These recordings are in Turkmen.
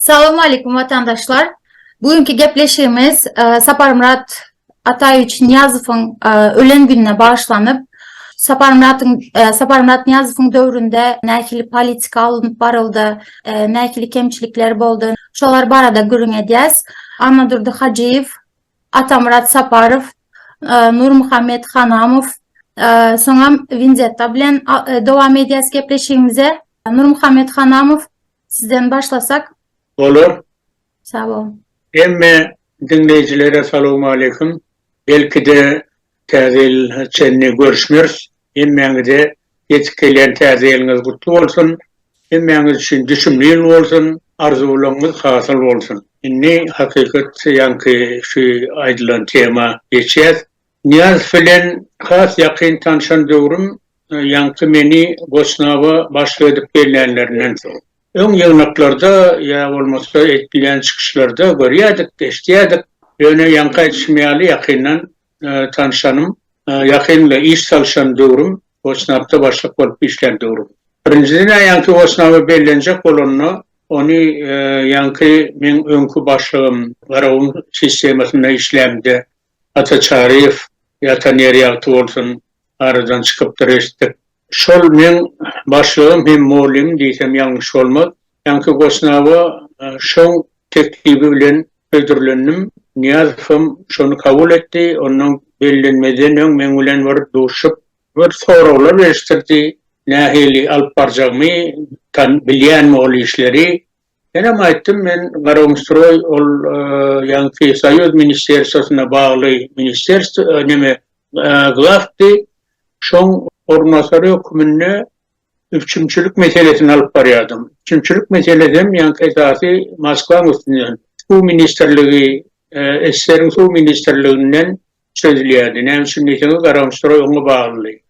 Salam aleykum vatandaşlar. Bugünkü gepleşigimiz e, Saparmyrat Ataýewiç Niýazowyň e, ölen gününe bagyşlanyp, Saparmyratyň e, Saparmyrat Niýazowyň döwründe nähili politika alnyp baryldy, nähili kemçilikler boldy, şolar barada gürrüň edýäs. Annadurdy Hajyýew Atamyrat Saparow, Nurmuhammet Hanamow, soňam Winzetta bilen dowam edýäs gepleşigimize. Nurmuhammet Hanamow, sizden başlasak. Bolar. Sag boluň. Hemme diňleýjilere salowmaleýkim. Belki-de, Täze ýyla çenli görüşmeris. Hemmäňize ýetip gelýän täze ýylyňyz gutly bolsun. Hemmäňiz üçin düşümli ýyl bolsun. Arzuwlaryňyz hasyl bolsun. Indi hakykat ýaňky şu aýdylan tema geçýäs. Nyýazow bilen has ýakyn tanşan döwrüm ýaňky meni Goçnaba başlyk edip bellänlerinden soň. Öň ýygnaklarda ýa bolmasa edilýän çykyşlarda görýädik, eşidýädik. Ýöne ýaňky aýdyşym ýaly ýakyndan tanyşanym, ýakyn we iş salyşan döwrüm Wosnapda başlyk bolup işlän döwrüm. Birinjiden-ä ýaňky Wosnaby bellenjek bolanda, ony ýaňky meň öňki başlygym Garagum sistemasynda işlämde Ata Çaryýew, Ata Nerýagty bolsun, aradan çykypdyr eşitdik. Şol meň başlygym hem mugallymym diýsem ýalňyş bolmaz. Ýaňky goşnawa şoň teklibi bilen hödürlendim. Nyýazowam şony kabul etdi. Onnoň bellenmezden öň meň bilen bir duşup, bir soraglar berişdirdi, nähili alyp barjakmy, tan, bilýänmi ol işleri, Menem aýtdym, men Garagumstroý ol ýaňky Soýuz ministerstwosyna bagly ministerstw neme glawdy, şoň orunbasary höküminde üpjünçilik meselesini alyp barýardym. Üpjünçilik meselesi hem ýaňky esasy Moskwaň üstünden, suw ministrligi, SSR-iň suw ministrliginden çözülýärdi. Näme üçin diýseňiz, Garagumçytroý oňa baglydy.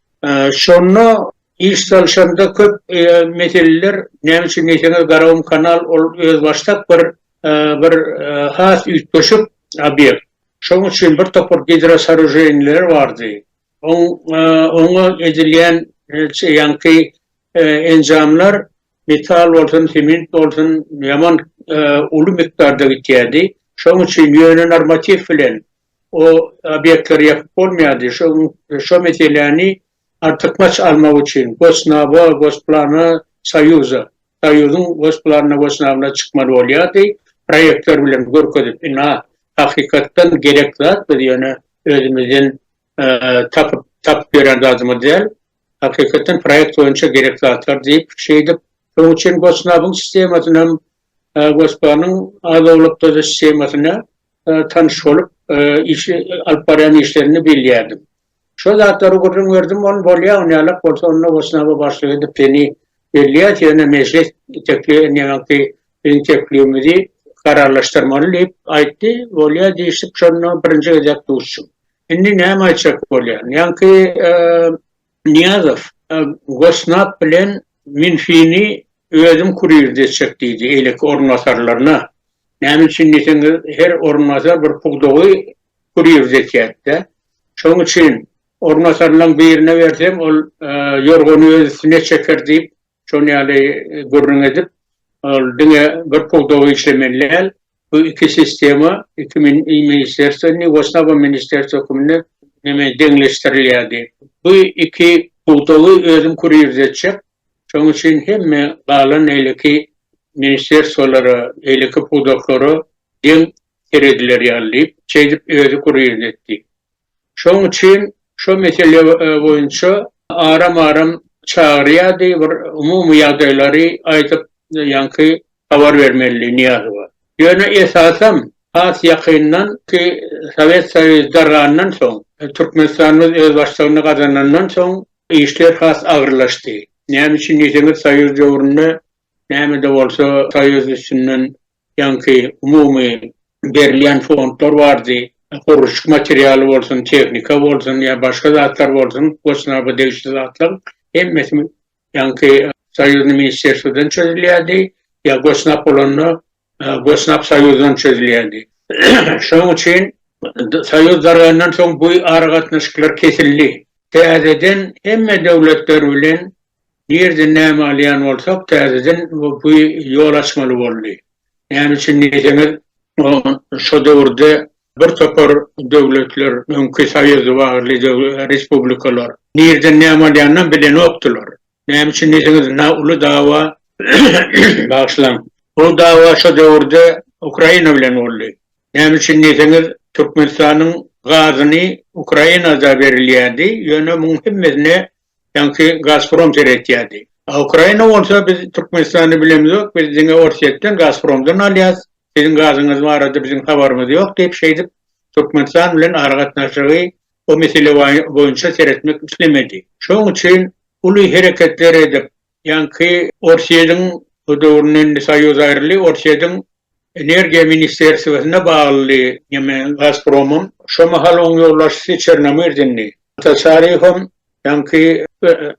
Şonda iş salşanda köp meseleler, näme üçin diýseňiz, Garagumkanal ol özbaşdak bir bir has üýtgeşik obýekt. Şonuň üçin bir topar gidrosooruženiýalar bardy. Oň oňa edilýän ýaňky enjamlar metal bolsun, sement bolsun ýaman uly mikdarda gitýärdi. Şonuň üçin ýöne normatiw bilen o obýektleri ýapyp bolmaýardy. Şo gün şo meseläni artykmaç almak üçin Gosnaba, Gosplana, Soýuza, Soýuzyň Gosplanyna, Gosnabna çykmaly bolýardy. Proýektler bilen görkezip, ina, hakykatdan gerek zat, biz ýöne özümizden tapyp, tapyp ýören zadymyz däl. Hakykatdan proýekt boýunça gerek zatlar diýip, şeýdip, şonuň üçin Gosnabyň sistemasynam Gospanyň az-owlak döze shemasyna tanyş bolup, işi, alyp barýan işlerini bilýärdim. Şo zatlary gürrüň berdim, ony bolýa, ony ýalak bolsa, onda Gosnaba başlyk edip seni belleýäs, ýöne mejlis tekli, indi ýaňaky biziň teklibimizi kararlaşdyrmaly diýip aýtdy, bolýa diýşip, şonda birinji gezek duşdum. Indi näme aýtjak bolýan? Ýaňky Nyýazow, Gosnap bilen Minfini özüm kurir desjek diýdi eýleki orunbasarlaryna. Näme üçin diýseňiz, her orunbasar bir pudagy kurir desýärdi-dä. Şoň üçin orunbasarlaň birine bersem, ol ýorgany öz üstüne çeker diýip, Şonuň ýaly gürrüň edip, ol diňe bir pudagy işlemeli däl, bu iki sistema, iki ministrerstwo indi Wosnaba ministrerstwo hökmünde neme deňleşdirilýärdi. Bu iki pudagy özüm kurýirzetjek, şonuň üçin hemme galan eýleki ministrerstwolara, eýleki pudaklara deň serediler ýaly diýip, şeýdip özi kurýirzetdi. Şonuň üçin şo mesele boýunça aram-aram çagyrýardy, bir umumy ýagdaýlary aýdyp, ýaňky habar bermelidi Nyýazowa. Ýöne esasam, has ýakyndan, ki, Sowet Soýuzy dargandan soň, Türkmenistanymyz özbaşdygyny gazanandan soň işler has agyrlaşdy. Näme üçin diýseňiz, Soýuz döwründe näme-de bolsa Soýuz üstünden Ýaňky umumy berilýän fondlar bardy. Gurluşyk materialy bolsun, tehnika bolsun ýa başga zatlar bolsun, gosnaba degişli zatlaryň hemmesi ýaňky soýuzny ministrerstwodan çözülýärdi ýa gosnap bolanda gosnap soýuzdan çözülýärdi. Şonuň üçin soýuz dargandan soň bu aragatnaşyklar kesildi. Täzeden hemme döwletler bilen Nireden näme alýan bolsak täzeden bu ýol açmaly boldy. Näme üçin diýseňiz şo döwürde bir topar döwletler öňki soýuz wagtly respublikalar nireden näme alýanynam bilenokdylar. Näme üçin diýseňiz na uly dawa bagyşlaň uly dawa şo döwürde Ukraina bilen boldy. Näme üçin diýseňiz Türkmenistanyň gazyny Ukrainada berilýärdi ýöne muň hemmesine Sanki Gazprom seretýärdi. A Ukraina bolsa biz Türkmenistanda bilemizok, biz diňe Orsýetden, Gazpromdan alýas, siziň gazyňyz barada biziň habarymyz ýok diýip şeýdip Türkmenistan bilen aragatnaşygy o mesele boýunça seretmek islemedi. Şoň üçin uly hereketler edip Ýaňky Orsýetiň, bu döwründe indi Soýuz aýryldy, Orsýetiň Energiýa ministerstwesine baglydy neme Gazpromyň. Şo mahal oň ýolbaşçysy Çernomyrdindi. Tatarýowam ýaňky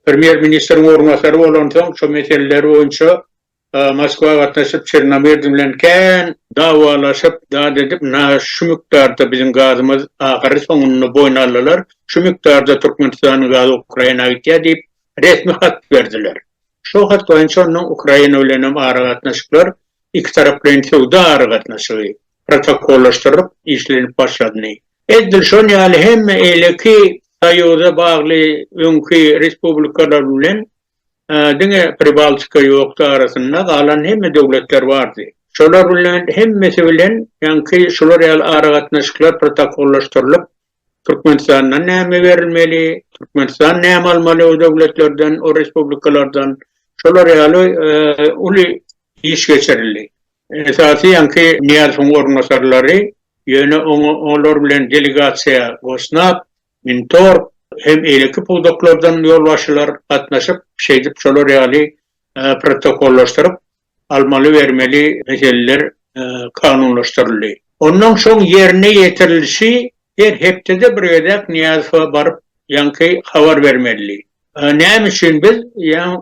premýer ministriň orunbasary bolansoň şo meseleler boýunça Moskwa gatnaşyp Çernomyrdy bilen kän dawalaşyp zat edip na şu mukdarda biziň gazymyz ahyry soňunda boýun aldylar, şu mukdarda Türkmenistanyň gazy Ukraina gitýär diýip resmi hat berdiler. Şol hat boýunça onuň Ukraina bilenem aragatnaşyklar ikitaraplaýyn söwda aragatnaşygy protokollaşdyrylyp işlenip başlandy. Edil şon ýaly hem eýleki soýuza bagly öňki respublikalar bilen diňe Pribaltika ýokdy arasynda galan hemme döwletler bardy. Şolar bilen hemmesi bilen ýaňky şular ýaly aragatnaşyklar protokollaşdyrylyp Türkmenistandan näme berilmeli, Türkmenistan näme almaly o döwletlerden, o respublikalardan, şolar ýaly uly iş geçirildi. Esasy ýaňky Nyýazowyň orunbasarlary, ýöne olar bilen delegasiýa Gosnap, Mintorg hem eýleki pudaklardan ýolbaşçylar gatnaşyp, şeýdip şolar ýaly protokollaşdyryp, almaly-bermeli meseleler kanunlaşdyryldy. Ondan soň ýerine ýetirilişi her hepdede bir gezek Nyýazowa baryp ýaňky habar bermelidi. Näme üçin biz,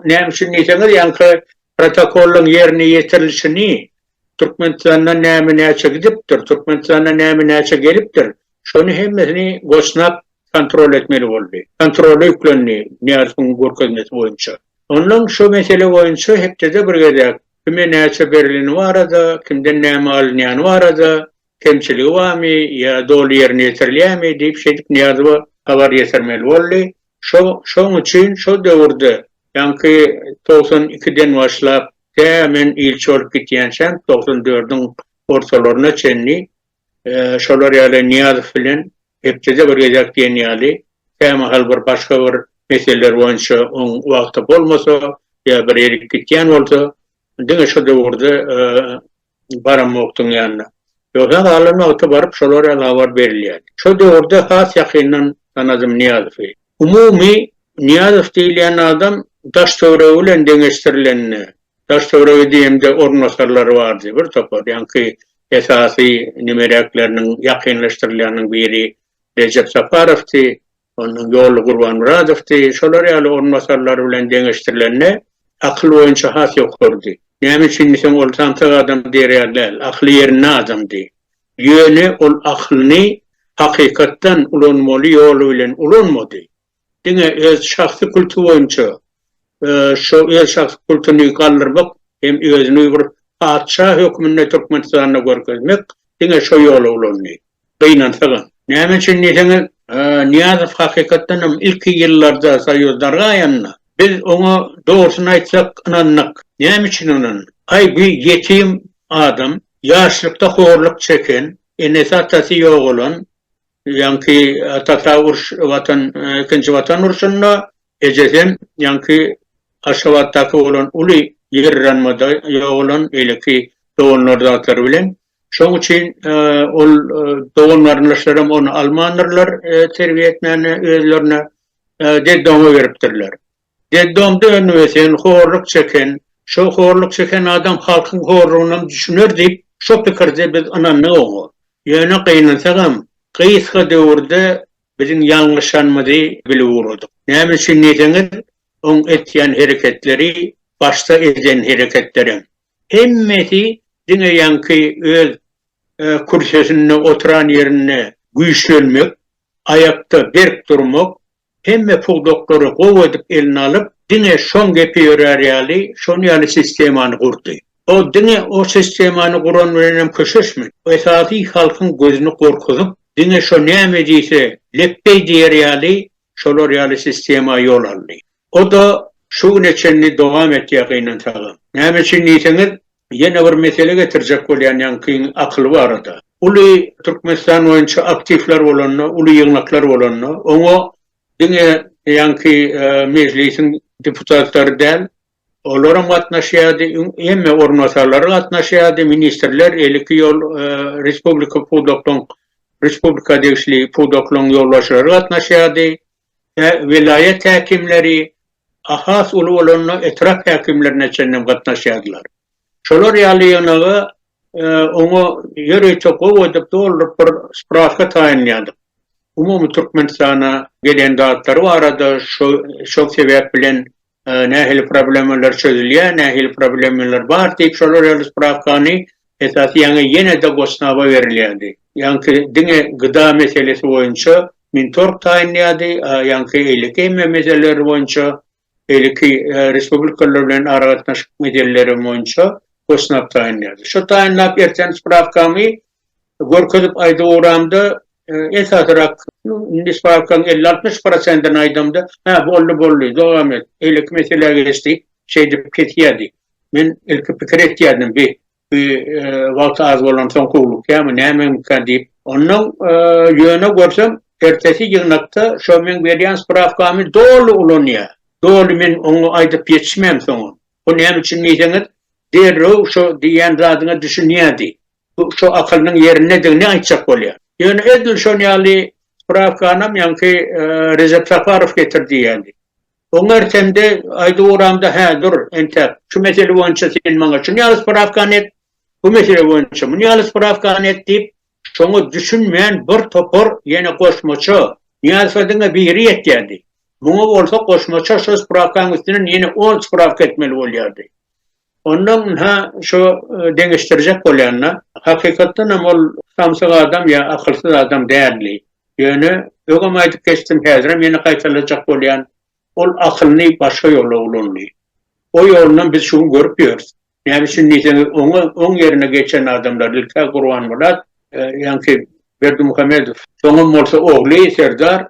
näme üçin diýseňiz, ýaňky protokollaryň ýerine ýetirilişini, Türkmenistandan näme-näçe gidipdir, Türkmenistana näme-näçe gelipdir, Şony hemmesini Goçnap kontrol etmeli boldy. Kontrola ýüklendi Nyýazowyň görkezmesi boýunça. Ondan şu mesele boýunça hepdede bir gezek, kime näçe berileni barada, kimden näme alynýany barada, kemçiligi barmy ýa doly ýerine ýetirilýärmi diýip şeýdip Nyýazowa habar ýetirmeli boldy. Şo, şoň üçin şo döwürde, ýaňky togsan ikiden başlap, tä men ilçi bolup gitýänçäm togsan dördüň ortalaryna çenli Şolar ýaly Nyýazow bilen hepdede bir gezek diýen ýaly kämahal bir başga bir meseleler boýunça oň wagty bolmasa ýa bir erip gitýän bolsa diňe şu döwürde baramokdyň ýanyna. Ýogsa galan wagty baryp şolar ýaly habar berilýär. Şo döwürde has ýakyndan tanadym Nyýazowy. Umumy Nyýazow diýilýän adam Daştöweregi bilen deňeşdirilende, Daştöweregi diýemde orunbasarlary bardy bir topar ýaňky Esasy nimeräkleriniň ýakynlaşdyrylýanyň biri Rejep Saparowdy, ondan Ýolly Gurbanmyradowdy, şolar ýaly orunbasarlary bilen deňeşdirilende akyl boýunça has ýokarydy. Näme üçin diýseň ol samsyk adam derýar däl, akyly ýerinde adamdy. Ýöne ol akylyny hakykatdan ulanmaly ýoly bilen ulanmady. Diňe öz şahsy kulty boýunça şo öz şahsy kultyny galdyrmak hem özüni bir patyşa hökmünde Türkmenistanda görkezmek diňe şo ýola ulandy. Gynansagam. Näme üçin diýseňiz, Nyýazow hakykatdan hem ilki ýyllarda soýuz dargaýanda, biz oňa dogrusyny aýtsak ynandyk. Näme üçin ynandyk? Aý bu ýetim adam, ýaşlykda horluk çeken, enesi-atasy ýogalan, Ýaňky atasy uruş watan ikinji watan urşunda ejesem ýaňky Aşgabatdaky bolan uly ýerranmada ýogalan beýleki doganlar zatlary bilen şoň üçin ol dogan garyndaşlaram ony almandyrlar terbiýe etmäne özlerine dedde oňa beripdirler. Detdomda önüp-ösen, horluk çeken, şo horluk çeken adam halkyň horlugynam düşüner diýip, şo pikirde biz ynandyk oňa. Ýöne gynansagam, gysga döwürde biziň ýalňyşanymyzy bilip ugradyk. Näme üçin diýseňiz, oň etýän hereketleri, başda eden hereketlerem, hemmesi diňe ýaňky öz kürsesinde oturan ýerinde güýçlenmek, aýakda berk durmak, Hemme pudaklary gowy edip eline alyp, diňe şoň gepi ýörär ýaly, şon ýaly sistemany gurdy. O diňe o sistemany guran bilenem köşeşmedi. Esasy halkyň gözüni gorkuzyp, diňe şo näme diýse, lepbeý diýer ýaly, şolar ýaly sistema ýol aldy. O-da şu güne çenli dowam etýär gynansagam. Näme üçin diýseňiz, Ýene bir mesele getirjek bolýan ýaňkyň akyly barada. Uly Türkmenistan boýunça aktiwler bolanda, uly ýygnaklar bolanda, oňa diňe ýaňky Mejlisiň deputatlary däl, olaram gatnaşýardy, hemme orunbasarlary gatnaşýardy, ministrler, eliki ýol respublika pudaklaryň, respublika degişli pudaklaryň ýolbaşçylary gatnaşýardy. we welaýat häkimleri, has uly bolanda etrap häkimlerine çenlem gatnaşýardylar. Şolar ýaly ýygnaga oňa ýörite gowy edip dolduryp bir spraska taýynlaýardyk. Umumy Türkmenistana gelen zatlary barada şo şol sebäp bilen nähili problemalar çözülýär, nähili problemalar bar diýip şolar ýaly sprawkany esasy ýaňa ýene-de Gosnaba berilýärdi. Ýaňky diňe gda meselesi boýunça Mintorg taýynlaýardy, a ýaňky eýleki hemme meseleler boýunça, beýleki respublikalar bilen aragatnaşyk meseleleri boýunça Gosnab taýynlaýardy. Şo taýynlap erten sprawkamy Görkezip aýdyp ugramda, esasyrak, indi stawkaň elli, altmyş prosentini aýdamda, Hä, boldy, boldy, dowam et, beýleki meselä geçdi, şeýdip kesýärdi. Men ilki pikir etýärdim, bi, bi wagty az bolansoň howlukýarmy, nämemikä diýip. Onnoň, ýöne görsem, ertesi ýygnakda şo meň berýän sprawkamy doly ulanýar. Doly men oňa aýdyp ýetişmän soňam. Bu näme üçin diýseňiz, derrew şo diýýän zadyňa düşünýärdi. Bu şo akylynyň ýerindedigini aýtjak bolýar. Ýöne edil şon ýaly sprawkanam ýaňky Rejep Saparow getirdi ýaly. Oňa ertemde aýdyp ugramda, Hä, dur, entäk, şu mesele boýunça sen maňa şun ýaly sprawkany et, bu mesele boýunça mun ýaly sprawkany et diýip, şoňa düşünmän bir topar ýene goşmaça, Nyýazowa diňe biri ýetýärdi. Muňa bolsa goşmaça şo sprawkaň üstünden ýene on sprawka etmeli bolýardy. Onda ynha, şu deňeşdirjek bolýan-da, hakykatdan hem ol samsyk adam ýa akylsyz adam däldi. Ýöne, öňem aýdyp geçdim, häzirem ýene gaýtalajak bolýan, ol akylyny başga ýola ulandy. O ýolunam biz şu gün görüp ýörüs. Näme üçin diýseňiz, oňa oň ýerine geçen adamlar, ilk-ä Gurbanmyrat, ýaňky Berdimuhamedow, soňam bolsa ogly Serdar,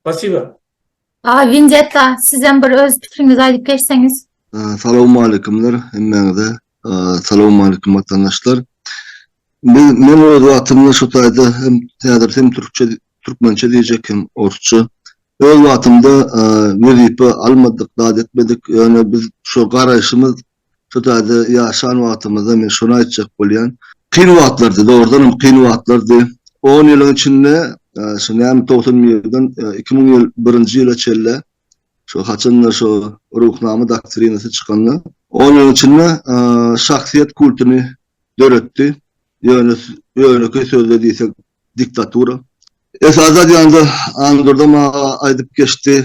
Spasiba. Aga Winzetta sizem bir öz pikiriňizi aýdyp geçseňiz. Salowmaleýkumlar hemmäňize. Salowmaleýkum watandaşlar. Men men öz wagtymda şu taýda hem häzir hem türkçe türkmençe diýjek hem orsça. Öz wagtymda wezipe almadyk, zat etmedik. Ýöne biz şu garaýşymyz Şu taýda ýaşan wagtymyzda men şony aýtjak bolýan. Kyn wagtlardy, dogrudan hem kyn wagtlardy. On ýylyň içinde, şu näme togsan bir ýyldan iki müň ýyl birinji ýyla çenli, şu haçanda şu Ruhnama doktrinasy çykanda, on ýylyň içinde şahsyýet kultuny döretdi, ýöne ýönekeý sözde diýsek diktatura. Esasy aýdanda Andurdam aga aýdyp geçdi,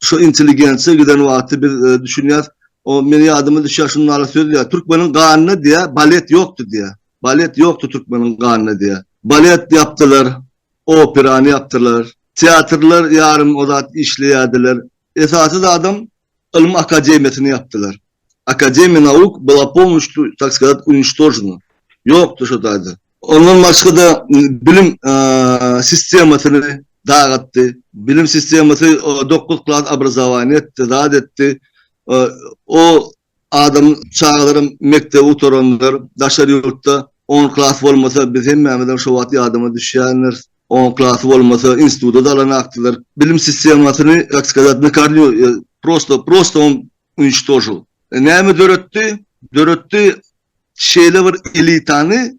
şu intelligensiýa giden wagty biz düşünýäs, o meni ýadyma düşýär şunuň ýaly söz diýýär, türkmeniň ganyna diýýär, balet ýokdy diýýär. Balet ýokdy türkmeniň ganyna diýýär. Balet ýapdylar, operany ýapdylar, teatrlar ýarym o zat işleýärdiler. Esasy zadam ylym akademiýasyny ýapdylar. Akademiýa nauk byla pomnuşli, tak skazat, uništožena. Ýokdy şo taýda. Ondan başga-da bilim sistemasyny dagatdy. Bilim sistemasy dokuz klas obrazowaniýa etdi, zat etdi. O Adam çagalaram mekdebi gutaranlar daşary ýurtda on klas bolmasa biz hemmämizem şo wagt ýadyma düşýändiris on klasy bolmasa instituda dalan akdylar bilim sistemasyny kak skazat nakarnýu prosto prosto on uniştožil näme döretdi döretdi şeýle bir elitany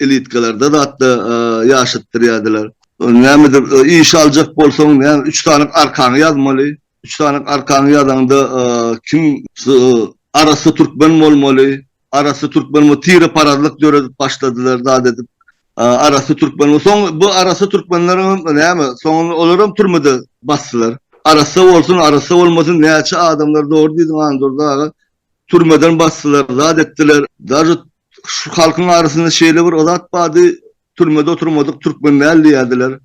Ilitgeler-de zat-da ýaşatdyrýardylar. Nämedir iş aljak bolsaň, näme, üç sanyk arkaňy ýazmaly. Üç sanyk arkaňy ýazaňda, kim arassa türkmen bolmaly. Arassa türkmen bol, tireparazlyk döredip başladylar zat edip. Arassa türkmen bol. Soň bu arassa türkmenleriňem näme, soňuny olaram türmede basdylar. Arassa bolsun, arassa bolmasyn, näçe adamlar, dogry diýdiň Andurdy aga, Türmeden basdylar, zat etdiler. Daže şu halkyň arasynda şeýle bir zat bardy, türmede oturmadyk türkmen däl diýerdiler.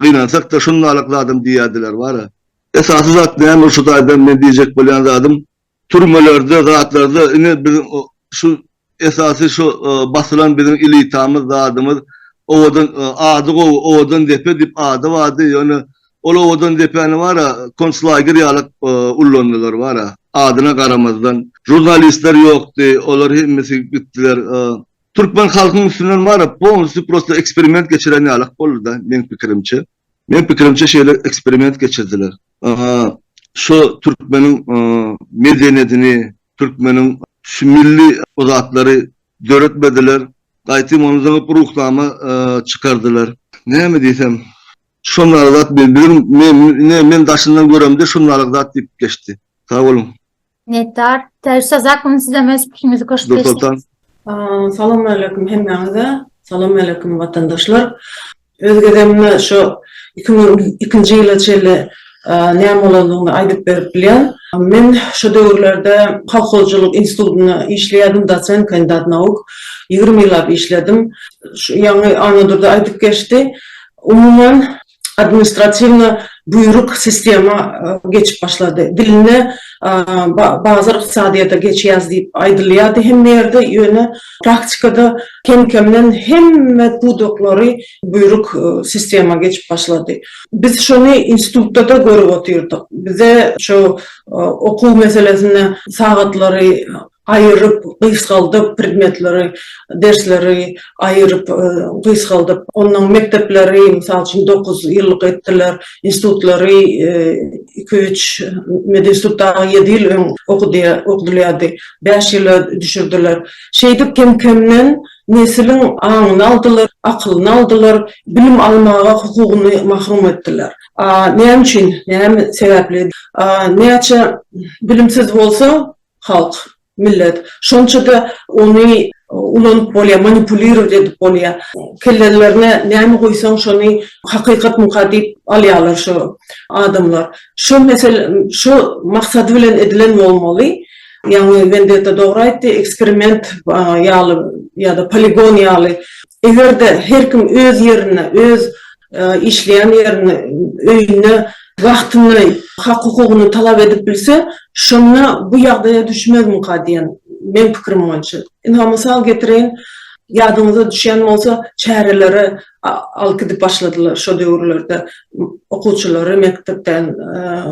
Gynansak-da şundalyk zadam diýerdiler bara. Esasy zat näme şu taýdan men diýjek bolýan zadym, türmelerde, zatlarda ine biziň şu Esasy şu basylan biziň elitamyz zadymyz owadan ady gowy owadan depe dip ady bardy ýöne ol owadan depäni bara konslager ýalak ullandylar bara adyna garamazdan žurnalistler ýokdy olar hemmesi gitdiler türkmen halkyň üstünden bara polnusty prosta eksperiment geçiren ýalak boldyda meň pikirimçe meň pikirimçe şeýle eksperiment geçirdiler şu türkmeniň medeniýetini Türkmeniň şu milli bu zatlary döretmediler. Gaýtym ony zyňyp ruhnama çykardylar. Näme diýsem. Şondaky zat men biziň ine men daşyndan göremde şondalyk zat diýip geçdi. Sag boluň. Minnetdar. Täşli zakmyň sizem öz pikiriňizi goşup geçseňiz. Nursoltan. Salamaleýkum hemmäňize. Salamaleýkum watandaşlar. Öz gezegimde şu iki müň ikinji ýyla çenli näme bolandygyny aýdyp berip bilýän. Men şo döwürlerde Kolhozçylyk institutynda işleýärdim, dosent, kandidat nauk. Ýigrimi ýyllap işledim. Şu ýaňy Annadurdy aýdyp geçdi. Umuman, administratiwna buýruk sistema geçip başlady. Dilinde bazar ykdysadyýete geçýäs diýip aýdylýardy hemme ýerde, ýöne Praktikada kem-kemden hemme pudaklary buýruk sistema geçip başlady. Biz şony institutda-da görüp otyrdyk. Bize şu okuw meselesinde sagatlary aýyryp, gysgaldyp, predmetleri, dersleri aýyryp, gysgaldyp, onnoň mekdepleri, mysal üçin, dokuz ýyllyk etdiler, institutlary iki-üç, medinstitutda ýedi ýyl öň okudylýardy. Bäş ýyla düşürdiler. Şeýdip kem-kemden nesiliň aňyny aldylar, akylyny aldylar, bilim almaga hukugyny mahrum etdiler. Näme üçin? Näme sebäpli? Näçe bilimsiz bolsa halk, millet, şonça-da ony ulanyp bolýar, manipulirowat edip bolýar. Kellelerine näme guýsaň, şony hakykatmyka diýip alýarlar şu adamlar. Şo mesele, şo maksady bilen edilen bolmaly. Ýagny Wendetta dogry aýtdy, eksperiment ýaly ýa-da poligon ýaly. Eger-de her kim öz ýerinde, öz işleýän ýerinde, öýünde wagtyny, hak-hukugyny talap edip bilse, şonda bu ýagdaýa düşmezmika diýen meň pikirim boýunça. Ynha, mysal getireýin, ýadyňyza düşýän bolsa, çärelere alyp gidip başladylar şo döwürlerde okuwçylary mekdepden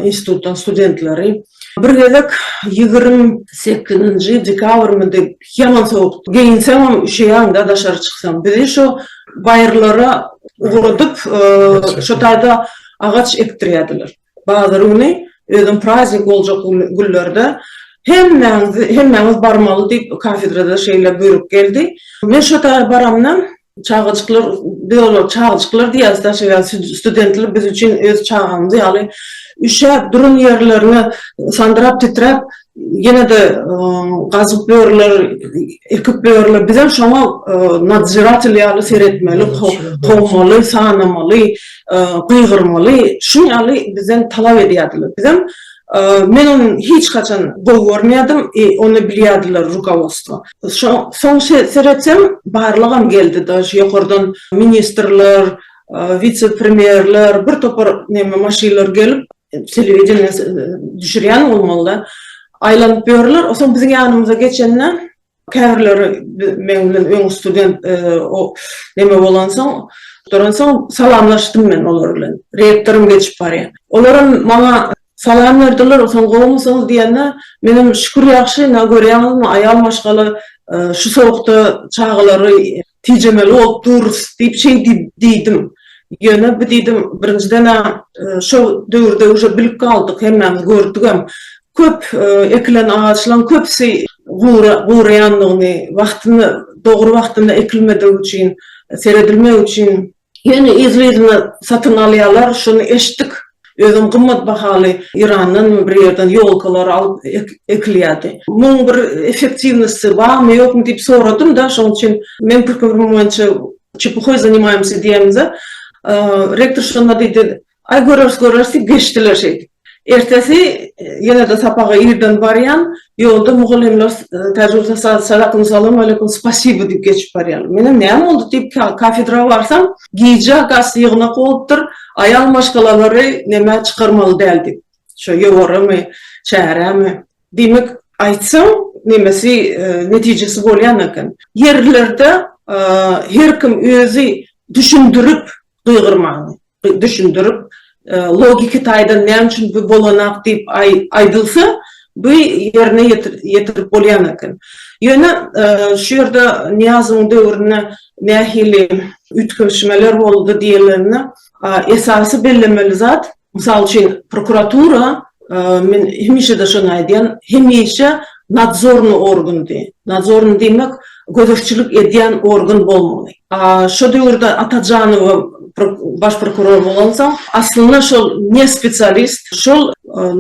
institutdan studentleri bir gezek ýigrimi sekizinji dekabrmydy ýaman sowukdy geýinseňem üşeýäňdä daşary çyksaň bizi şo baýyrlara ugradyp şo taýda agaç ekdirýärdiler bazar güni özem praznik boljak günlerde hemmäňiz hemmäňiz barmaly diýip kafedrada şeýle buýruk geldi men şo taýa baramda Çagajyklar, biz olara çagajyklar diýýäris daşy ýa studentler biz üçin öz çagamyz ýaly üşäp duran ýerlerine sandyrap titräp ýene-de gazyp börler ekip börler bizem şoňa nadżiratel ýaly seretmeli kowmaly sanamaly gygyrmaly şuny ýaly bizden talap edýärdiler bizem Men ony hiç haçan gowy görmeýärdim i ony bilýärdiler rukowostwo. Soň seretsem barlygam geldi daž ýokardan ministrler, wise premýerler bir topar neme maşynlar gelip telewideniýe düşürýän bolmalyda aýlanyp ýörler. Soň biziň ýanymyza geçende Käbirleri meň bilen öň student neme bolansoň, duransoň salamlaşdym men olar bilen. Rektorym geçip barýar. Olaram maňa salam berdiler, onsoň gowumysyňyz diýende, menem şükür ýagşy, ine görýäňizmi, aýal maşgala şu sowukda çagalary Tejemeli ol durus diýip şeý diýdim. Ýöne bu diýdim, birinjiden-ä şo döwürde uje bilip galdyk, hemmämiz gördügem. Köp ekilen agaçlaň köpüsi gura, guraýandygyny, wagtyny, dogry wagtynda ekilmedigi üçin, seredilmegi üçin Ýöne yzly-yzyna satyn alýarlar, şuny eşitdik. Özem gymmat bahaly Yrandanmy bir ýerden ýolkalar alyp ekilýärdi. Muň bir effektiwnosty barmy, ýokmy diýip soradym-da, şoň üçin meň pikirim boýunça çepuhoý zanimaýmysy diýemde, rektor şonda diýdi, Aý göreris göreris diýip geçdiler şeýdip. Ertesi ýene-de sapaga irden barýan, ýolda mugallymlar täjigürse Sadakum salam aleýkum spasibo diýip geçip barýarlar. Menem näme boldy diýip kafedra barsam, gijä gaç ýygnak bolupdyr, aýal maşgalalary nämä çykarmaly däl diýip. Şo ýowaramy, çäremi. Diýmek, aýtsaň nemesi netijesi bolýan eken. Ýerlerde her kim özi düşündirip gygyrmaly. düşündirip, logiki taýdan näme üçin bu bolanak diýip aýdylsa, bu ýerine ýetirip bolýan eken. Ýöne şu ýerde Nyýazowyň döwründe nähili üýtgeşmeler boldy diýilende, esasy bellemeli zat, mysal üçin, prokuratura Men hemişe-de şony aýdýan, hemişe nadzornyý organdy. Nadzornyý diýmek, gözegçilik edýän organ bolmaly. Şo döwürde Atajanowa baş prokuror bolansoň, aslynda şol ne spesialist, şol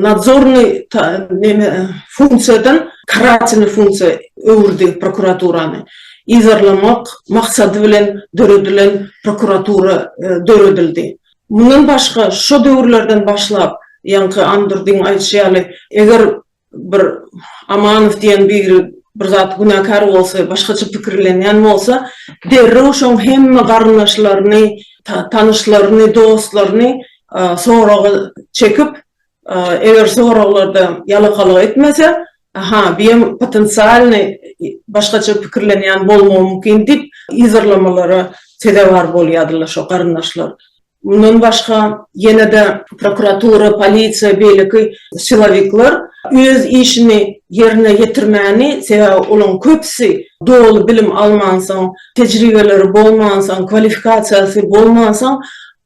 nadzornyý neme funksiýadan karatelnyý funksiýa öwürdi prokuraturany. Yzarlamak maksady bilen döredilen prokuratura döredildi. Mundan başga, şo döwürlerden başlap, ýaňky Andurdyň aýdyşy ýaly, eger bir Amanow diýen biri bir zat günäkär bolsa, başgaça pikirlenýän bolsa, derrew şoň hemme garyndaşlaryny, tanyşlaryny, dostlaryny soraga çekip, Eger soraglarda ýalakalyk etmese, Aha, biem potensialnyý başgaça pikirlenýän bolmagy mümkin diýip yzarlamalara sezewar bolýadylar şo garyndaşlar. Mundan başga, ýene-de prokuratura, polisiýa, beýleki silowikler öz işini ýerine ýetirmäni, sebäbi olaryň köpüsi doly bilim almansoň, tejribeleri bolmansoň, kwalifikasiýasy bolmansoň,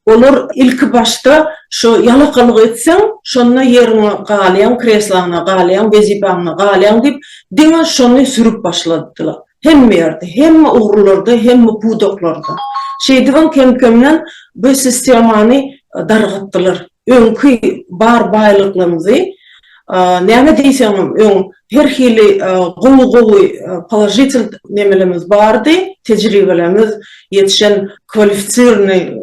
Olar ilki başda şo ýalakalyk etseň, şonda ýeriňe galýaň, kresloňa galýaň, wezipäňe galýaň diýip, diňe şony sürüp başladylar. Hemme ýerde, hemme ugurlarda, hemme pudaklarda. Şeýdibem kem-kemden bu sistemany dargatdylar. Öňki bar baýlyklarymyzy. Näme diýseňem öň her hili gowy gowy položitel nemelerimiz bardy, tejribelerimiz ýetişen kwalifisirny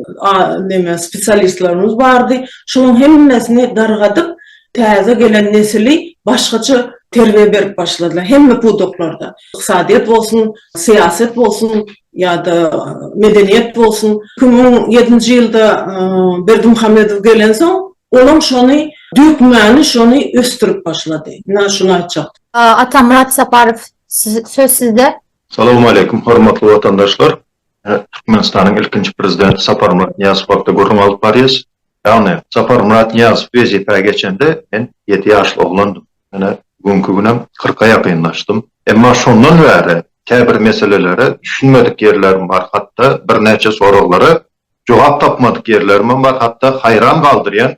neme spesialistlerimiz bardy. Şolaň hemmesini dargadyp täze gelen nesili başgaça terbiýe berip başladylar hemme pudaklarda. Ykdysadyýet bolsun, syýaset bolsun ýa-da medeniýet bolsun. Iki müň ýedinji ýylda Berdimuhamedow gelensoň Olam şony dökmäni şony ösdürip başlady. Ina şuny aýtjak. Atamyrat Saparow söz sizde. Salowmaleýkim hormatly watandaşlar. Türkmenistanyň ilkinji prezidenti Saparmyrat Nyýazow hakda gürrüň alyp barýas. Ýagny Saparmyrat Nyýazow wezipä geçende men ýedi ýaşly oglandym. Menä bu günki günem kyrka ýakynlaşdym. Emma şondan bäri käbir meselelere düşünmedik ýerlerim bar hatda birnäçe soraglara jogap tapmadyk ýerlerimem bar, hatda haýran galdyrýan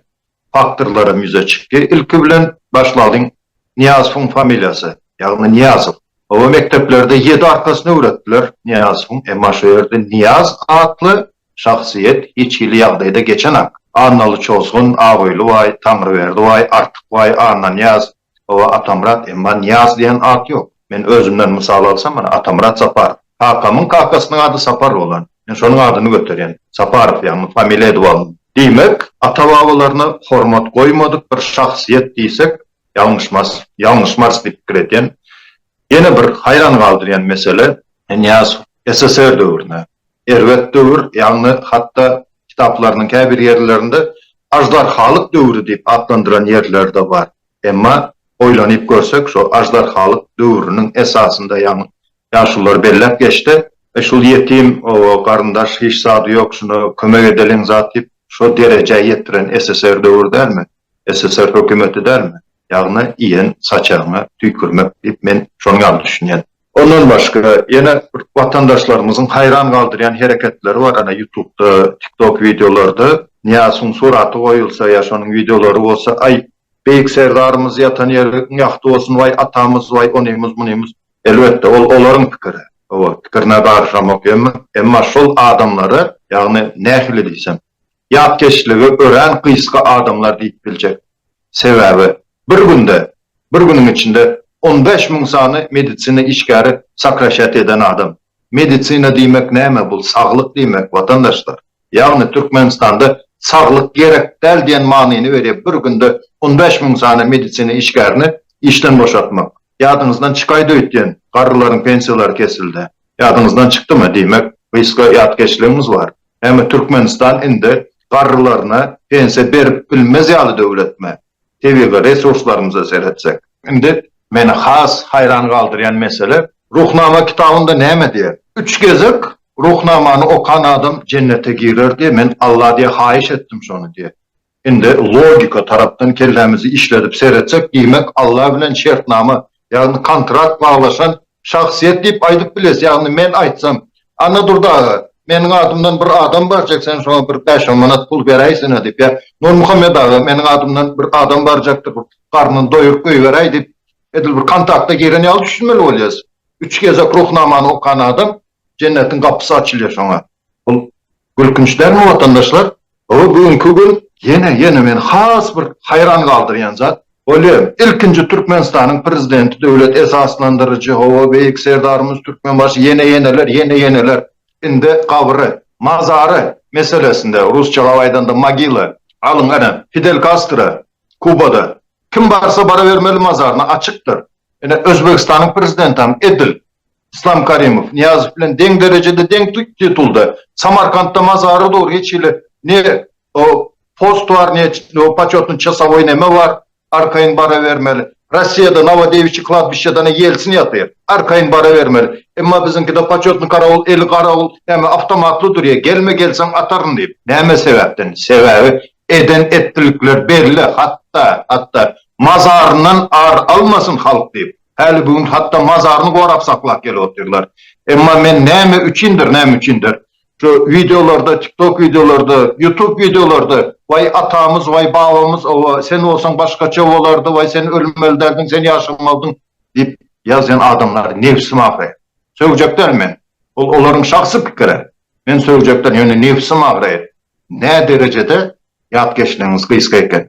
faktorlaram ýüze çykdy. Ilki bilen başlalyň, Nyýazowyň familiýasy, ýagny Nyýazow. Oba mekdeplerde ýedi arkasyny öwretdiler Nyýazowyň, emma şu ýerde Nyýaz atly şahsyýet hiç hili ýagdaýda geçenak. Annaly Çozgun, Abyly baý, Taňryberdi baý, Artyk baý, Annanyýaz, Hawa, Atamyrat, emma Nyýaz diýen at ýok. Men özümden mysal alsam, mana, Atamyrat Saparow. Kakamyň kakasynyň ady Sapar bolan. Men şonuň adyny göterýän. Saparow, ýagny familiýa edip aldym. Diýmek, ata-babalaryna hormat goýmadyk bir şahsyýet diýsek, ýalňyşmarys. Ýalňyşmarys diýip pikir edýän. Ýene bir haýran galdyrýan mesele, Nyýazow SSR döwrüne, Erbet döwür, ýagny hatda kitaplarynyň käbir ýerlerinde aždarhalyk döwri diýip atlandyran ýerleri-de bar. Emma oýlanyp görsek, şo aždarhalyk döwrüniň esasynda, ýagny ýaşulular belläp geçdi, Eý, şul ýetim garyndaş hiç zady ýok, şuna kömek edeliň zat diýip, şo derejä ýetiren SSR döwri dälmi, SSR hökümeti dälmi? Ýagny iýen saçagyňa tüýkürmek diýip, men şoň ýaly düşünýän. Ondan başga ýene watandaşlarymyzyň haýran galdyrýan hereketleri bar ana ýutubda tiktok wideolarda Nyýasuň suraty goýulsa ýa şonuň wideolary bolsa aý Beýik Serdarymyz ýatan ýeri iň ýagty bolsun waý atamyz waý onymyz munymyz elbetde ol olaryň pikiri oba pikirine garyşamok emma emma şol adamlary ýagny nähili diýsem ýatkeşligi örän gysga adamlar diýip biljek. Sebäbi bir günde, bir günüň içinde on bäş müň sany medisina işgäri sokraşat eden adam. Medisina diýmek näme? Bul saglyk diýmek, watandaşlar. Ýagny Türkmenistanda saglyk gerek däl diýen manyny berýär bir günde on bäş müň sany medisina işgärini işden boşatmak. Ýadyňyzdan çykaýdy öýtýän, garrylaryň pensiýalary kesildi. Ýadyňyzdan çykdymy? Diýmek, gysga ýatkeşligiňiz bar. Näme Türkmenistan indi garrylaryna pensiýa berip bilmez ýaly döwletmi? Tebigy resurslarymyza seretsek. Indi meni has haýran galdyrýan mesele, Ruhnama kitabynda näme diýer? Üç gezek Ruhnamany okan adam jennete girer diýer, men Alla diýer haýyş etdim şony diýer. Indi logika tarapdan kellämizi işledip seretsek diýmek Alla bilen şertnama ýagny kontrakt baglaşan şahsyýet diýip aýdyp biles ýagny men aýtsam Annadurdy aga meniň adymdan bir adam barjak sen şoňa bir bäş on manat pul beräýsene diýip ýa Nurmuhammet aga meniň adymdan bir adam barjakdyr bir garnyny doýuryp goýberäý diýip edil bir kontakta giren ýaly düşünmeli bolýas üç gezek ruhnamany okan adam jennetiň gapysy açylýa şoňa bul Gülkünç dälmi watandaşlar? Hawa bu günki gün ýene ýene meni has bir haýran galdyrýan zat, bolýam ilkinji Türkmenistanyň prezidenti döwlet esaslandyryjy hawa beýik Serdarymyz Türkmenbaşy ýene ýeneler ýene ýeneler indi gabry, mazary meselesinde rusçalap aýdanda mogila alyň ene Fidel Kastro Kubada Kim barsa barabermeli mazaryna açykdyr. Ine, Özbegistanyň prezidentam edil Yslam Karimow, Nyýazow bilen deň derejede, deň titulda. Samarkantda mazary dur, hiç hili ne post bar, ne početny çasowoý neme bar, arkaýyn barabermeli. Rossiýada Nowodewiçi kladbişçedana Ýelsin ýatyr, arkaýyn barabermeli. Emma biziňkide početny karawul, eli garawul, näme, awtomatly durýa, gelme, gelseň ataryn diýip. Näme sebäpden? Sebäbi Eden etdilikler belli hatda hatda mazaryndan ar almasyn halk diýip häli bu gün hatda mazaryny gorap saklap gelip otyrlar emma men näme üçindir näme üçindir şu wideolarda tiktok wideolarda ýutub wideolarda waý atamyz waý babamyz oba sen bolsaň başgaça bolardy waý sen ölmeli däldiň sen ýaşamalydyň diýip ýazýan adamlary nebsim agraýar sögejek däl men bul olaryň şahsy pikiri men sögejek däl ýöne nebsim agraýar Näderejede ýat geçleňiz gysga eken?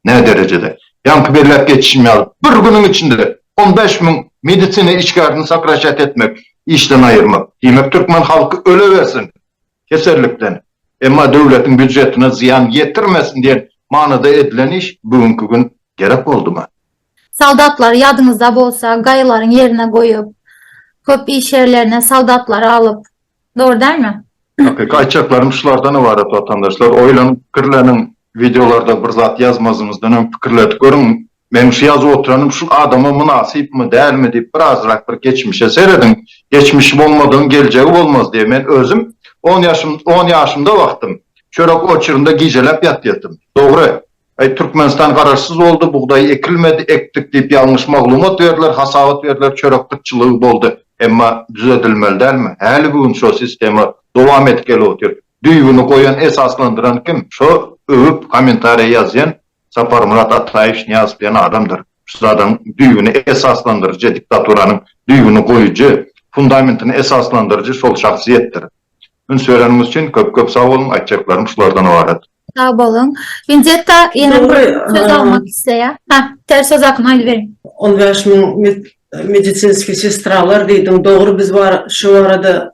Näderejede? Ýaňky belläp geçişim ýaly, bir günüň içinde on bäş müň medisina işgärini sokraşýat etmek, işden aýyrmak. Diýmek, türkmen halky ölewersin kesellikden, emma döwletiň býujetine zyýan ýetirmesin diýen manyda edilen iş bu günki gün gerek boldumy? Soldatlary ýadyňyzda bolsa, gaýylaryň ýerine goýup, köp iş ýerlerine soldatlary alyp, Dogry dälmi? Hakyky aýtjaklarym şulardan ybarat watandaşlar, oýlanyp pikirleniň, wideolarda bir zat ýazmazymyzdan öň pikirledip görüň, meniň şu ýazyp oturanym şul adama mynasypmy, dälmi diýip bir azrak bir geçmişe serediň, geçmişi bolmadygyň geljegi bolmaz diýe men özüm on ýaşym on ýaşymda wagtym çörek oçurynda gijeläp ýatýatym. Dogry. Aý Türkmenistan garaşsyz boldy, bugdaý ekilmedi, ekdik diýip ýalňyş maglumat berdiler, hasabat berdiler, çörek gytçylygy boldy. Emma düzedilmeli dälmi? Häligi gün şo sistema dowam edip gelip otyr. Düýbüni goýan, esaslandyran kim? Şo öwüp kommentariýa ýazýan Saparmyrat Ataýew Şnyýazow diýen adamdyr. Şu zadyň düýbüni esaslandyryjy, diktaturanyň düýbüni goýujy, fundamentini esaslandyryjy şol şahsyýetdir. Üns bereniňiz üçin köp-köp sag boluň, aýtjaklarym şulardan ybarat. Sag bolun. Vinzetta ýene bir söz almak isleýär. Ha, ter söz akym aýdyp beriň. 15 müň medisinski sestralar diýdiň, dogry biz bar şu barada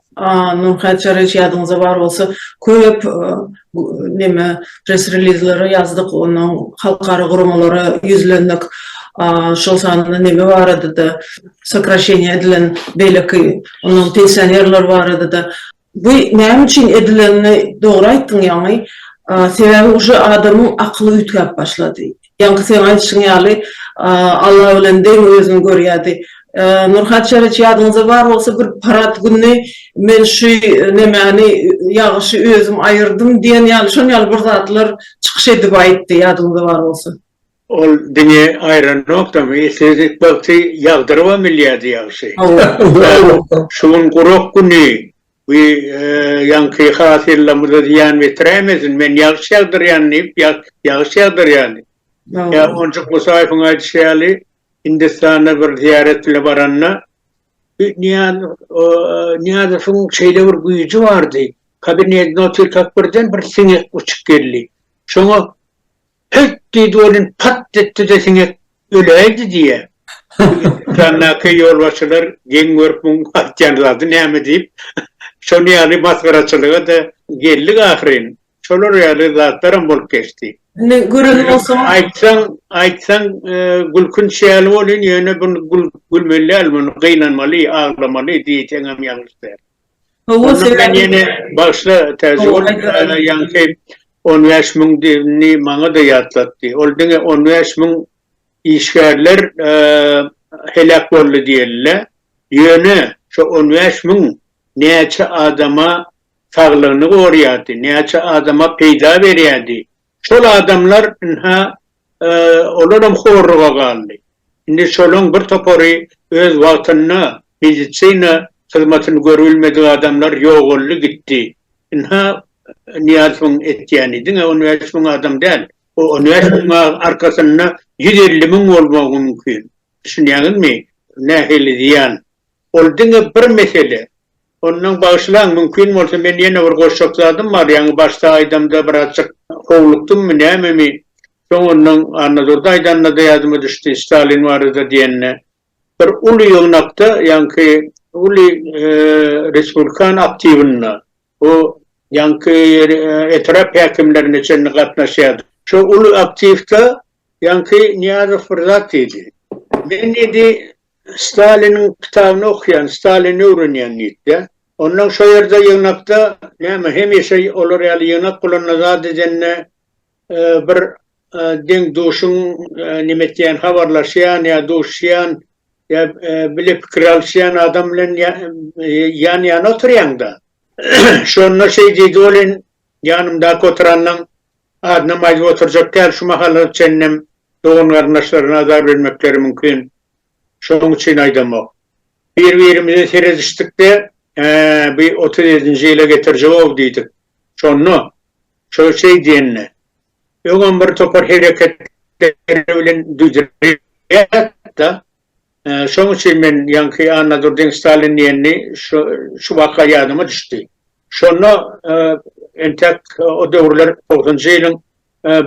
Nurhan Çaryýewiç ýadyňyzda bar bolsa köp neme press relizleri ýazdyk, onuň halkara guramalara ýüzlendik. Şol sanda neme barada-da sokraşeniýa edilen beýleki onuň pensionerler barada-da Bu näme üçin edilenini dogry aýtdyň ýaňy, sebäbi uje adamyň akyly üýtgäp başlady. Ýaňky seň aýdyşyň ýaly Alla bilen deň özüni görýärdi. Nurhat Çereç ýadyňyzda bar bolsa bir parat gününi men şu nemäni ýagşy özüm aýyrdym diýen ýaly şon ýaly bir zatlar çykyş edip aýtdy ýadyňyzda bar bolsa. Ol diňe aýranokdamy, esezip bagty ýagdyrybam bilýärdi ýagşy. Şu gün gurak güni, bu ýaňky hasylymyza zyýan betiräýmesin, men ýagyş ýagdyrýan diýip, ýagyş ýagdyrýardy. Ýa onjak Musaýewiň aýdyşy ýaly, Hindistana bir zyýarat bile baranda, Nyýazowyň şeýle bir güýji bardy, kabinetine otyrkak birden bir siňek uçup geldi. Şoňa Hylt diýdi welin, pat etdi-de siňek öläýdi diýýä. Dükandäki ýolbaşçylar geň görüp muň aýtýan zady näme diýip, şol ýaly masgaraçylyga-da geldik ahyryn. Şolar ýaly zatlaram bolup geçdi. Indi gören bolsaň. Aýtsaň, aýtsaň gülkünç ýaly bolýan, ýöne bu gülmeli däl, muny gynanmaly, aglamaly diýseňem ýalňyş däl. Gowy sebäbi. Ýene başda täze ýurtda ýaňky on bäş müň diýenini maňa-da ýatlatdy. Ol diňe on bäş müň işgärler heläk boldy diýeli-le. Ýöne şo on bäş müň näçe adama saglygyny gorýardy, näçe adama peýda berýärdi, Şol adamlar, ynha, olaram horluga galdy. Indi şolaň bir topary öz wagtynda medisina hyzmatyny görübilmedik adamlar ýogaldy gitdi. Ynha, Nyýazowyň etýäni diňe on bäş müň adam däl. O on bäş müň arkasynda ýüz elli müň bolmagy mümkin. Düşünýäňizmi, nähili zyýan? Ol diňe bir mesele. Ondan bagyşlaň, mümkin bolsa men ýene bir goşjak zadym bar, ýaňy başda aýdamda birazjyk howlukdymmy nämemi, soň ondan Annadurdy aýdanda-da ýadyma düşdi, Stalin barada diýende, bir uly ýygnakda, ýaňky uly respublikan aktiwynda, o ýaňky etrap häkimlerine çenli gatnaşýardy. Şo uly aktiwda Ýaňky Nyýazow bir zat diýdi. Men diýdi, Staliniň kitabyny okýan, Stalini öwrenýän diýdi-de. Ondan şo ýerde ýygnakda näme hemişe olar ýaly ýygnak bolanda zat edende bir deň-duşuň näme etýän, habarlaşýan ýa duşýan ýa bile pikir alyşýan adam bilen ýan-ýana oturýaň-da. Şonda şeý diýdi, ol Ýanymdaky oturanyň adynam aýdyp oturjak däl, şu mahala çenlem dogan-garyndaşlaryna azar bermekleri mümkin. Şonuň üçin aýdamok. Bir-birimize seredişdik-de, Hä, bi otuz ýedinji ýyla getirjeg-ow diýdik. Şonda, şo şeý diýende, öňem bir topar hereketleri bilen düwdürýär-de, Şoň üçin men ýaňky Annadurdyň Stalin diýenini şu waka ýadyma düşdi. Şonda entek o döwürler togsanjy ýylyň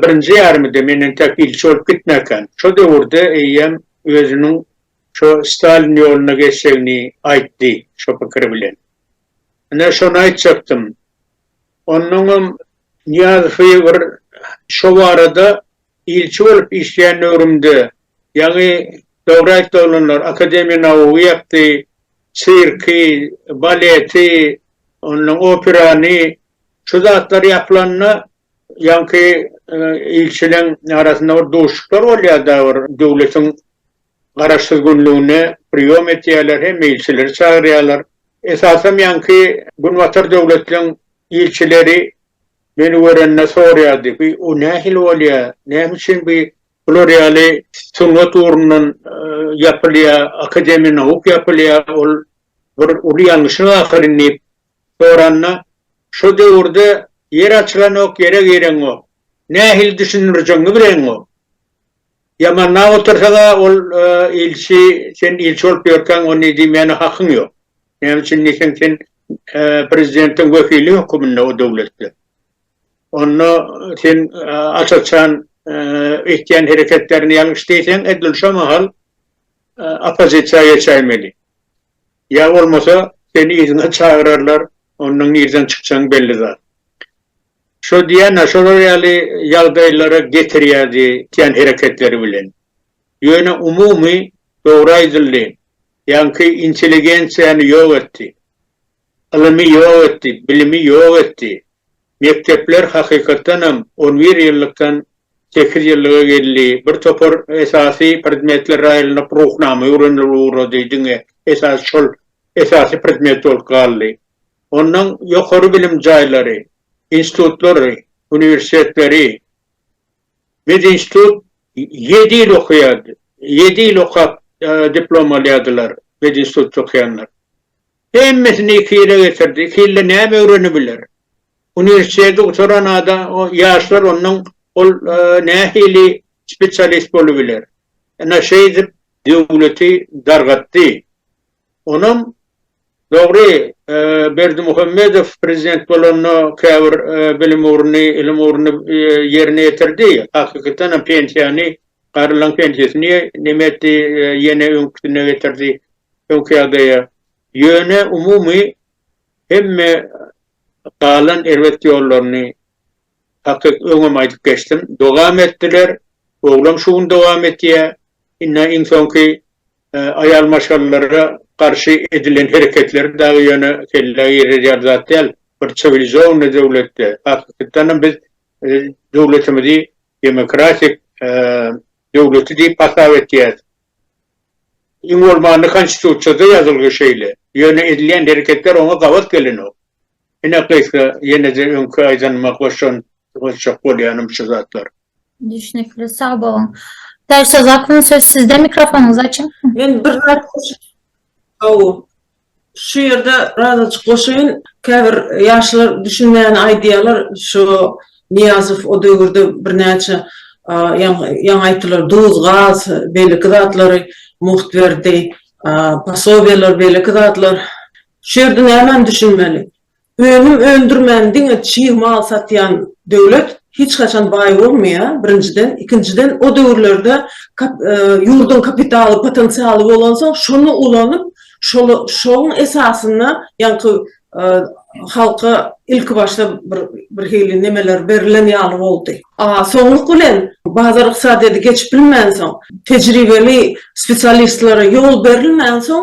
birinji ýarymydy, men entek ilçi bolup gitmäkäm. Şo döwürde eýýäm özüniň şo Stalin ýoluna geçjegini aýtdy şo pikiri bilen. Ine, şony aýtjakdym. Onnoňam Nyýazowy bir şo barada Ilçi bolup işleýän döwrümde ýaňy dogry aýtdy oglanlar, Akademiýa nauk ýapdy, sirki, baleti, ondan operany, şu zatlar ýapylanda ýaňky ilçileň arasynda bir duşuşyklar bolýarda bir döwletiň garaşsyz günlügine priýom etýärler, hemme ilçileri çagyrýarlar. Esasam ýaňky günbatar döwletleň ilçileri Meni görende soraýardy, Bu o nähili bolýa, näme üçin bi bular ýaly sungat ugrundan ýapylýa, akademiýa nauk ýapylýa, ol bir uly ýalňyşlyk ahyryn diýip soranda, Şo döwürde ýer açylanok, ýere gireňok. Nähili düşündirjegiňi bileňok. Ýamanlap otursaň-a ol ilçi, sen ilçi bolup ýörkäň ony diýmäne hakyň ýok. Näme üçin diýseň sen prezidentiň wekili höküminde o döwletde. Onda sen açykçan etýän hereketlerini ýalňyş diýseň edil şo mahal oppozisiýa geçäýmeli. Ýa bolmasa seni yzyna çagyrarlar, onda nirden çykjagyň belli zat. Şo diýýän-ä şolar ýaly ýagdaýlara getirýärdi etýän hereketleri bilen. Ýöne umumy, dogry aýdyldy, ýaňky intelligensiýany ýok etdi. Ylymy ýok etdi, bilimi ýok etdi. Mekdepler hakykatdanam on bir ýyllykdan sekiz ýyllyga geldi, bir topar esasy predmetler raýlynyp Ruhnama öwrenilip ugrady, diňe esasy şol esasy predmet bolup galdy. Onnoň ýokary bilim jaýlary, institutlary, uniwersitetleri Medinstitut ýedi ýyl okaýardy. Ýedi ýyl okap diplom alýardylar medinstitutda okaýanlar. Hemmesini iki ýyla getirdi. Iki ýylda näme öwrenibiler? Uniwersiteti gutaran adam, ýaşlar ondan ol nähili spesialist bolubiler? Ynha şeýdip döwleti dargatdy. Onam dogry Berdimuhamedow prezident bolanda käbir bilim ugruny, ilim ugruny ýerine ýetirdi. Hakykytanam pensiýany, garylaň pensiýasyny näme etdi, ýene öňküsine getirdi, öňki ýagdaýa. Ýöne umumy hemme galan erbet ýollaryny Takyk öňem aýdyp geçdim. Dowam etdiler. Oglam şu gün dowam etýä. Inna iň soňky aýal maşgalalara garşy edilen hereketleri dagy ýöne kellä girerýär zat däl. Bir çiwilizowny döwletde, hakykatdanam biz döwletimizi demokratik döwleti diýip hasap etýäs. Iň bolmanda konstitusiýada ýazylgy şeýle. Ýöne edilýän hereketler oňa gabat gelenok. Ine gysga ýeneje öňki aýdanyma goşan goşjak bolýanym şu zatlar. Düşnükli sag boluň. Täşe zakon söz sizde mikrofonyňyzy açyň. Men bir zat goşup Hawa. Şu ýerde razajyk goşaýyn. Käbir ýaşlar düşünmäni aýdýarlar. Şu Nyýazow o döwürde birnäçe ýaňy aýtdylar duz, gaz beýleki zatlary mugt berdi. Posobiýalar beýleki zatlar. Şu ýerde nämäni düşünmeli? Önüm öndürmän diňe çig mal satýan döwlet hiç haçan baý bolmaýar, birinjiden, ikinjiden o döwürlerde ýurduň kapitaly, potensialy bolansoň şony ulanyp şoň esasynda ýaňky halka ilki başda bir hili nemeler berilen ýaly boldy. A soňluk bilen bazar ykdysadyýeti geçip bilmänsoň, tejribeli spesialistlere ýol berilmänsoň,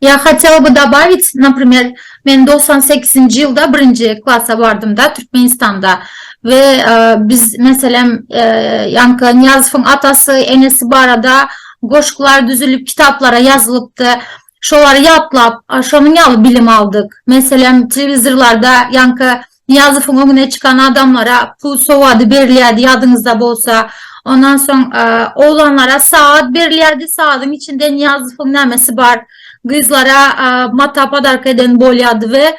Ýa хотел by dabawit naprimer men togsan sekizinji ýylda birinji klasa bardymda türkmenistanda we biz meselem ýaňky nyýazowyň atasy enesi barada goşgular düzülip kitaplara ýazylypdy şolary ýatlap şonuň ýaly bilim aldyk meselem telewizorlarda ýaňky Nyýazowyň öňüne çykan adamlara pul sowady berilýärdi, ýadyňyzda bolsa. Ondan soň oglanlara sagat berilýärdi, sagadyň içinde Nyýazowyň nämesi bar, gyzlara mata podarka eden bolýardy we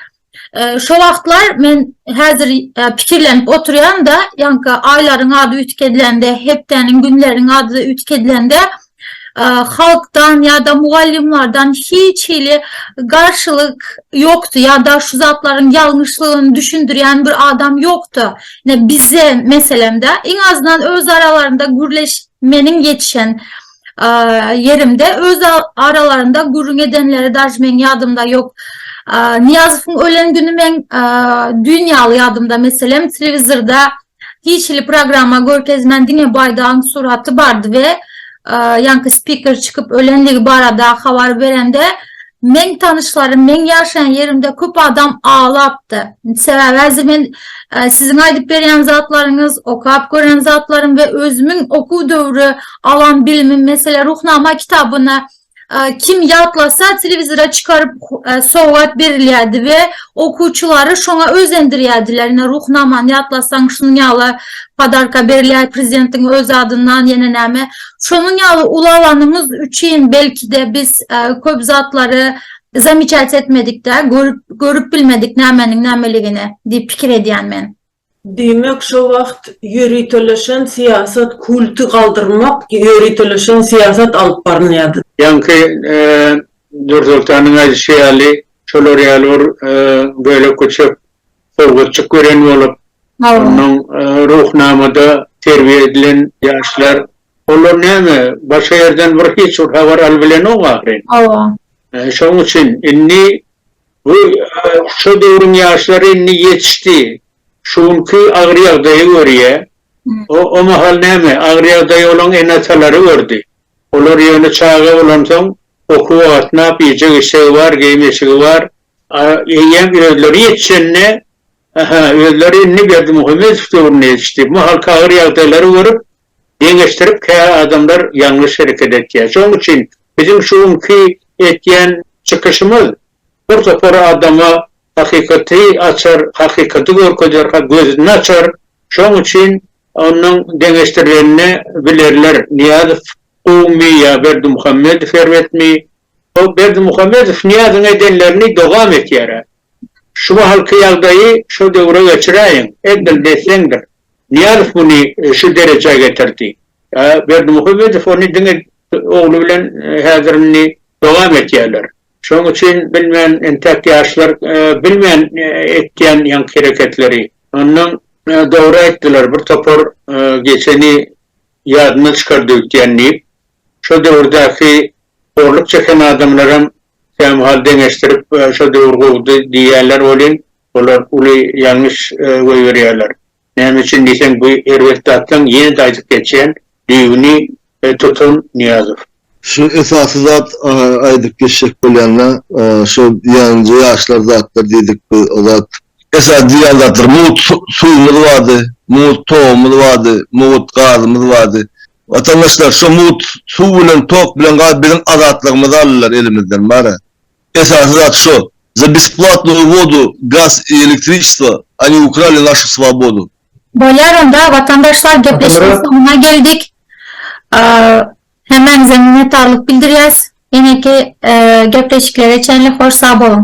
şo wagtlar men häzir pikirlenip oturýan-da, ýaňky aýlaryň ady üýtgedilende, hepdäniň, günleriň ady üýtgedilende, halkdan ýa-da mugallymlardan hiç hili garşylyk ýokdy ýa-da şu zatlaryň ýalňyşlygyny düşündirýän bir adam ýokdy. Ine bize meselemde iň azyndan öz aralarynda gürleş meniň ýetişen ýerimde öz aralarynda gürrüň edenleri daž meň ýadymda ýok. Nyýazowyň ölen güni meň düýn ýaly ýadymda meselem telewizorda Tijli programma görkezmän diňe baýdagyň suraty bardy we ýaňky spiker çykyp ölendigi barada habar berende meň tanyşlarym meň ýaşaýan ýerimde köp adam aglapdy. Sebäbi häzir men siziň aýdyp berýän zatlaryňyz, okap gören zatlarym we özümiň okuw döwri alan bilimim meselä Ruhnama kitabyny Kim ýatlasa, telewizora çykaryp sowgat berilýärdi we okuwçylary şoňa özendirýärdiler. Ine, Ruhnamany ýatlasaň, şunuň ýaly podarka berilýär, prezidentiň öz adyndan, ýene näme. Şonuň ýaly ulalanymyz üçin belki-de biz köp zatlary zamiçat etmedik-dä, görüp bilmedik nämeniň nämeligini diýip pikir edýän men. Diýmek şo wagt ýöriteleşen syýasat kulty galdyrmak ýöriteleşen syýasat alyp barylýardy. Ýaňky Nursoltanyň aýdyşy ýaly şolar ýaly bir bölek köçek sowgatjyk gören bolup ondan Ruhnamada terbiýe edilen ýaşlar olar näme başga ýerden bir hiç bir habar alybilenok ahyryn. Hawa. Şoň üçin indi Bu şo döwrüň ýaşlary indi ýetişdi. Şu günki agyr ýagdaýa görýä. O o mahal näme, agyr ýagdaýa olaň ene-atalary gördi. Olar ýöne çaga bolansoň, okuwa gatnap, ýejek-içegi bar, geýim-eşigi bar. A eýýäm özleri ýetişende, aha, özleri indi Berdimuhamedow döwrüne ýetişdi. Bu mahalky agyr ýagdaýlary görüp, Deňeşdirip kä adamlar ýalňyş hereket etýär. Şoň üçin biziň şu günki etýän çykyşymyz bir topar adama hakykaty açar, hakykaty görkezýär, ha gözüni açar. Şoň üçin onuň deňeşdirilenini bilerler. Nyýazow gowumy ýa Berdimuhamedow erbetmi? Hoo Berdimuhamedow Nyýazyň edenlerini dowam etýärä. Şu mahalky ýagdaýy şo döwre geçiräýiň. Edil desseňdir. Nyýazow muny şu derejä getirdi. Berdimuhamedow ony diňe ogly bilen häzir indi dowam etýärler. Şonuň üçin bilmen entäk ýaşlar bilmen etýän ýaňky hereketleri. Ondan dogry aýtdylar bir topar geçeni ýadyndan çykardy öýtýän diýip. Şo döwürdäki horluk çeken adamlaram kämahal deňeşdirip şo döwür gowudy diýýärler welin, Olar uly ýalňyş goýberýärler. Näme üçin diýseň, bu erbet zatlaň, ýene-de aýdyp geçýän, düýbüni tutan Nyýazow. Şu esasy zat aýdyp geçjek bolýanda, şu diýýänje ýaşlar zatlar diýdik biz, o zat. Esasy diýýän zatlar, mugt suwumyz bardy, mugt togumyz bardy, mugt gazymyz bardy. Watandaşlar, şu mugt suw bilen, tok bilen, gaz biziň azatlygymyzy aldylar elimizden, bara. Esasy zat şo, za besplatnoyu vodu, gaz i elektriçestvo, oni ukrali našu svobodu. Bolýar onda watandaşlar gepleşigiň soňuna geldik. Hemmäňize minnetdarlyk bildirýäs. Ýeneki gepleşiklere çenli hoş sag boluň.